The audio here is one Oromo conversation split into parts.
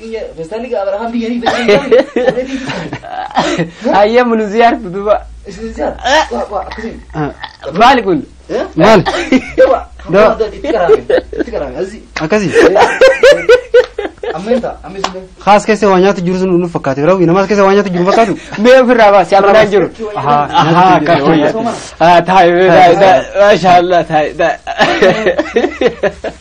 Biyya feestaalli gaa Abrahaam biyya ni Hayyee munuziyaar duduba. Maali kun? Maal? Dawa. Akkasii. Kaas keessa waa nyaatu jiru sun nuuf fakkaate raawwi namaas keessa waa nyaatu jiru fakkaatu. Mee ofirraa baasi abdaan jiru. Ahaa. Ahaa kan fayyaa. Haa taa'e taa'e taa'e. Maashaallah taa'e taa'e.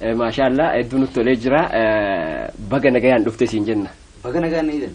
Maashaa Allah hedduu nutti tolee jira. Baga nagayaan dhufte siin jenna. Baga nagaan na hidan.